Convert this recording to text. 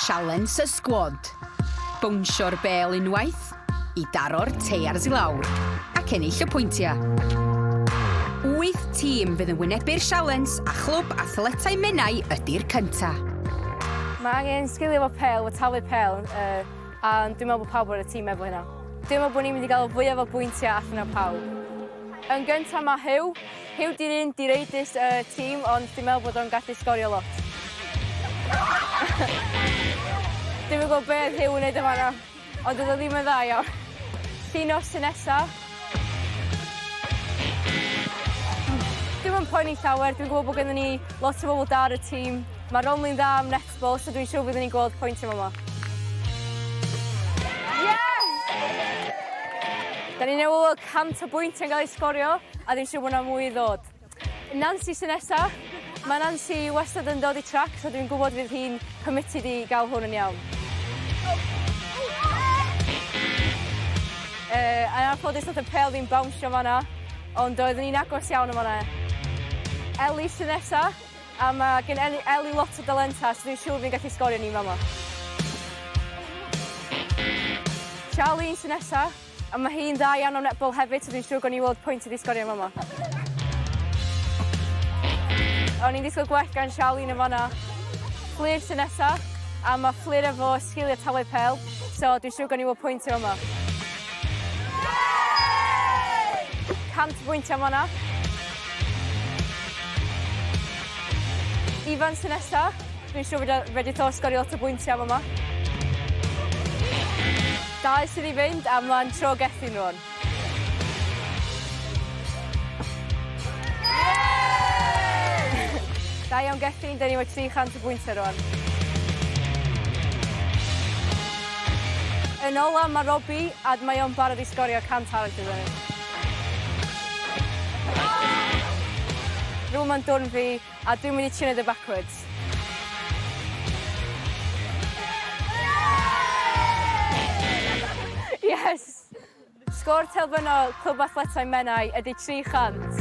Sialens y sgwad, bownsio'r bêl unwaith i daro'r teiars i lawr ac ennill y pwyntiau. Wyth tîm fydd yn wynebu'r sialens a Chlwb Athletau Menai ydy'r cyntaf. Mae angen sgilio fo pel, fo talu pel, uh, a dwi'n meddwl bod pawb o'r tîm efo hynna. Dwi'n meddwl bod ni'n mynd i gael fwyaf o bwyntiau allan o pawb. Yn gyntaf mae Huw, Huw di'r un direidus y tîm ond dwi'n meddwl bod o'n gallu sgorio lot. Dwi'n yn gwybod beth Huw yn neud yn fanna, ond oedd o ddim yn dda iawn. Llun o'r tŷ nesa. Dim yn poeni llawer, dwi'n gwybod bod gennym ni lot o bobl da ar y tîm. Mae Romley'n dda am Wel, so dwi'n siŵr byddwn ni'n gweld pwynt yn fama. Yes! Da ni'n newid o 100 o bwynt yn cael ei sgorio, a dwi'n siŵr bod yna mwy i ddod. Nancy sy'n nesa. Mae Nancy wastad yn dod i trac, so dwi'n gwybod fydd hi'n committed i gael hwn yn iawn. Uh, a na ffodus oedd y pel fi'n bawnsio fanna, ond doeddwn ni'n agos iawn o fanna. Ellie sy'n nesa. A mae gen Eli, Eli lot o dalenta, so fi'n siŵr fi'n gallu sgorio ni fama. Charlene sy'n nesa, a mae hi'n dda iawn o netball hefyd, so fi'n siŵr gawn ni weld pwynt i fi sgorio fama. O'n i'n disgwyl gwell gan Charlene yn fanna. Fflir sy'n nesa, a mae Fflir efo sgiliau talu pel, so dwi'n siŵr gawn ni weld pwynt i fama. 100 pwynt am fanna. Ifan sy'n nesa. Dwi'n siŵr fod e wedi to sgorio lot o bwyntiau fama. Dau sydd i fynd a mlaen tro Gethin rwan. Da iawn Gethin, dyn ni wedi 300 o bwyntiau rwan. Yn ola mae Robbie a mae o'n barod i sgorio 100 arall iddo ni. Rŵan mae'n dwrn fi, a dwi'n mynd i tune the backwards. Yes! Sgôr terfynol Clwb Athletau Menai ydy 300.